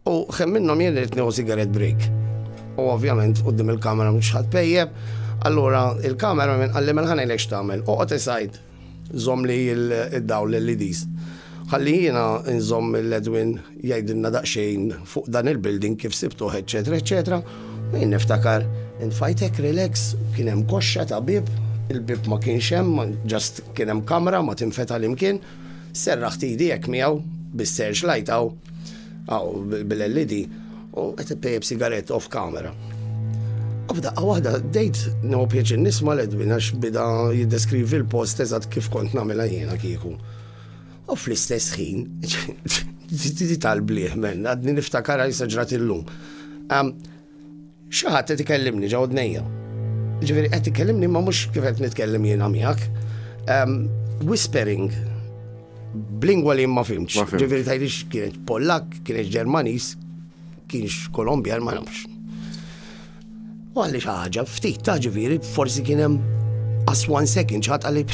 U kemm minnhom jien irid nieħu sigaret break. U ovvjament quddiem il-kamera mhux ħadd pejjeb, allura il-kamera minn qalli minn ħanejlek x'tagħmel. Oqgħod isajd żomm li id-dawl l-LEDs. Ħalli jiena nżomm l-Edwin jgħidilna daqsxejn fuq dan il-building kif sibtuh eċċetera eċċetera. U jien niftakar intfajtek relax, kien hemm koxxa ta' bieb, il-bieb ma kienx hemm, just kien hemm kamra ma tinfetaħ l-imkien. Serraħt idi hekk miegħu, bis-search light hawn, hawn bil-LED, u qed ippejjeb sigarett off camera. U f'daqqa waħda dejt neħu pjaċir nisma' l-Edwin għax bida jiddeskrivi l-post eżatt kif kont nagħmilha jiena kieku. U fl-istess ħin, tal-bliħ men, għadni niftakar għajsa ġrat illum. Xi ħadd qed ikellimni ġo udnejja. Ġifieri qed ikellimni ma mhux kif qed nitkellem jiena miegħek. Ehm, whispering b'lingwa li ma fimx. Ġifieri tgħidix kienet Pollak, kienet Ġermaniż, kienx Kolombjan ma nafx. U għalli xi ħaġa ftit ta' ġifieri forsi kien hemm as one second xi ħadd għalli.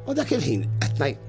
U dak il-ħin qed ngħid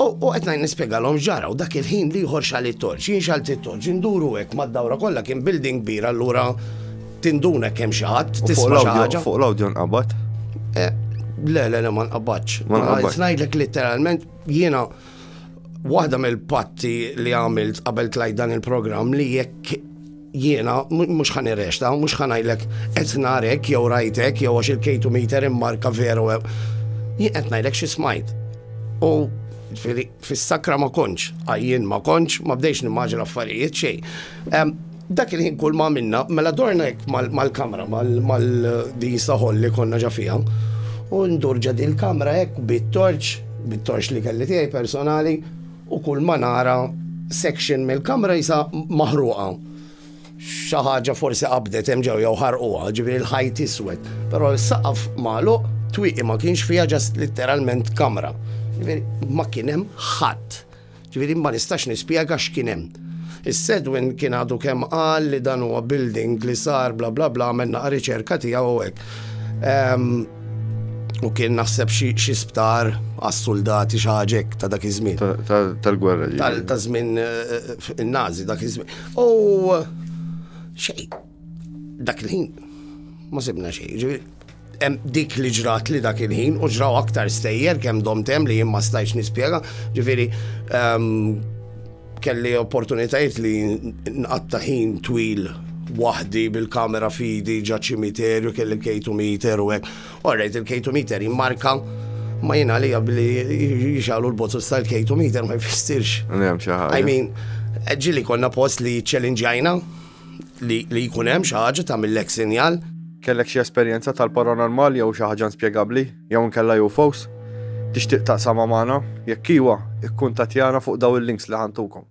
U qed ngħid nispjegalhom ġara u dak il-ħin liħor xal it-torċ, jien xalt it-torċ, induru hekk mad-dawra kollha kien building kbir allura tinduna kemm xi ħadd tisma' xi ħaġa. Fuq l-awdjo nqabad? Eh, le, le, le, ma nqabadx. Ma nqabadx. Ngħidlek literalment jiena waħda mill-patti li għamilt qabel tlajt dan il-programm li jekk Jiena mhux ħa nirrexta, mhux ħa ngħidlek qed narek jew rajtek jew għax il-kejtu meter immarka veru. Jien qed ngħidlek xi smajt. U fis-sakra ma konċ, għajjien ma konċ, ma bdejx nimmaġi l-affarijiet xej. Dak il-ħin kull ma minna, mela dorna jek mal-kamra, mal-din saħol li konna ġafija, u ndurġa din kamra jek bit-torċ, bit-torċ li kelli tiegħi personali, U kull ma nara section mill-kamra jisa maħruqa. Xi ħaġa forsi qabdet hemm ġew jew ħarquha, ġifieri l-ħajt iswed. Però s-saqaf magħluq, twieqi ma kienx fiha ġast litteralment kamra. Ġifieri ma kien hemm ħadd. Ġifieri ma nistax nispjega x'kien hemm. Is-Sedwin kien għadu kemm qal li dan huwa building li sar bla bla bla għamel naqa' riċerka tiegħu u hekk. U kien naħseb xi sptar għas-soldati xaġek ta' dak iż-żmien. Tal-gwerra. Ta' żmien eh, eh, in-Nazi dak iż-żmien. U xej, dak il-ħin ma sibna xej. Dik li ġrat li dak il-ħin u ġraw aktar stejjer kemm domtem li jien ma stajx nispjega. Ġifieri ehm, Kelli opportunitajiet li nqatta ħin twil waħdi bil-kamera fidi ġa ċimiterju kelli kejtu meter u hekk. Orrejt il-kejtu meter jimmarka ma jina li billi jixalu l-botus tal-kejtu meter ma jfissirx. I mean, ġili konna post li ċelinġajna li jkun hemm xi ħaġa ta' mill-ek sinjal. Kellek xi esperjenza tal-paranormal jew xi ħaġa inspjegabbli? Jew inkella hu fos? Tixtieq taqsamha magħna? Jekk iwa, ikkuntattjana fuq dawn il-links li ħa ntukom.